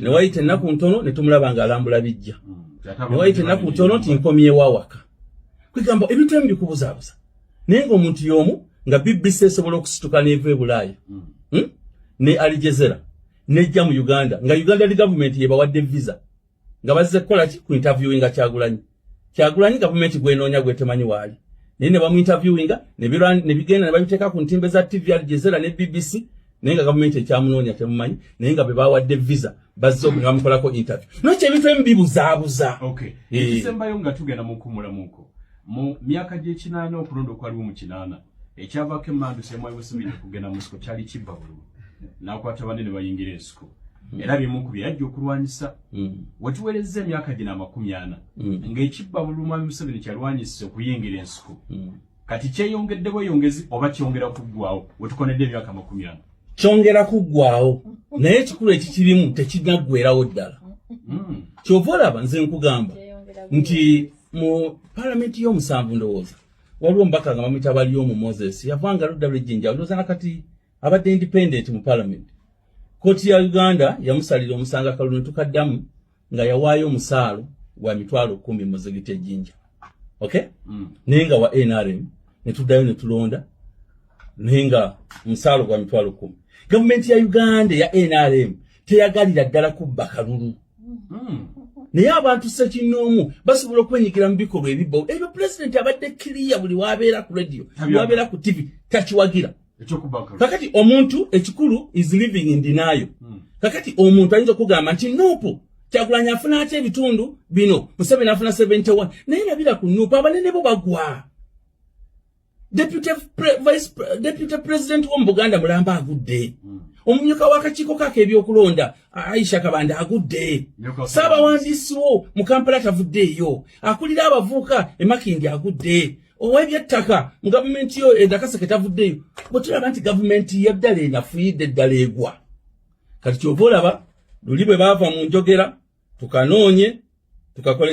newayita ennaku ntono netumulaba nga alambula bijja newayita ennaku ntono nti nkomyewo awaka kwegamba ebintu emu bikubuzabuza naye nga omuntu yomu nga bbc esobola okusituka neva ebulaaya hmm. hmm? ne alijezera nejja mu uganda nga uganda li gavumenti yebawadde visa nga bazze kukola ki ku interviewinga kyagulanyi kyagulanyi gavumenti gwenoonya gwetemanyi waali naye ne bamuinterviewinga ne bigenda ne babiteeka ku ntimbe za tv al jezera ne bbc naye nga gavumenti ekyamunoonya temumanyi naye nga be bawadde visa bazze oku ne bamukolako interview nokyo ebintu emu bibuzaabuza eh. ekisembayo nga tugenda mukuwumulamuko mu myaka gy'ekinaana okulonda okwaliwo mu kinaana ekyavako emandu semwayi musimini okugenda mu nsiko kyali kibba bululu nakwata banne ne bayingira ensiko hmm. era bimu ku byeyajja okulwanyisa hmm. wetuwerezza emyaka gino amakumi ana hmm. ng'ekibba bululu mwami museveni kyalwanyisa okuyingira ensiko kati kyeyongedde bweyongezi oba kyongera kuggwawo wetukonedde emyaka amakumi ana kyongera kuggwawo naye ekikulu ekikirimu tekinaggwerawo ddala kyova olaba nze nkugamba nti mu palamenti y'omusanvu ndowooza waliwo omubaka nga bamuyita bali omu moses yavanga ludda lwejjinja olowooza nakati abadde independent mu palamenti kooti ya uganda yamusalira omusango akalu netukaddamu nga yawaayo omusaalo gwa mitwalo kumi mu zigiti ejjinja ok mm. naye nga wa nrm netuddayo netulonda naye nga omusaalo gwa mitwalo kumi gavumenti ya uganda eya nrm teyagalira ddala kubba kalulu hmm. naye abantu sekinnoomu basobola okwenyigira mu bikolwa ebibba ebyo pulezidenti abadde kiriya buli wabeera ku radio wabeera ku tivi takiwagira kakati omuntu ekikulu is living in dinayo hmm. kakati omuntu ayinza okugamba nti nuupu kyagulanyi afuna atya ebitundu bino museveni afuna 71 naye nabira ku nuupu abanene bo bagwa deputy, pre, vice, deputy president wo mu buganda mulamba agudde mm. omumyuka w'akakiiko kaako ebyokulonda aisha kabanda agudde saabawandiisi wo mu kampala tavuddeeyo akulira abavuuka emakindi agudde owebyettaka mu gavumenti yo endakaseke tavuddeeyo bwe tulaba nti gavumenti yeddala enafuyidde eddala egwa kati kyova olaba luli bwe baava mu njogera tukanoonye tukakole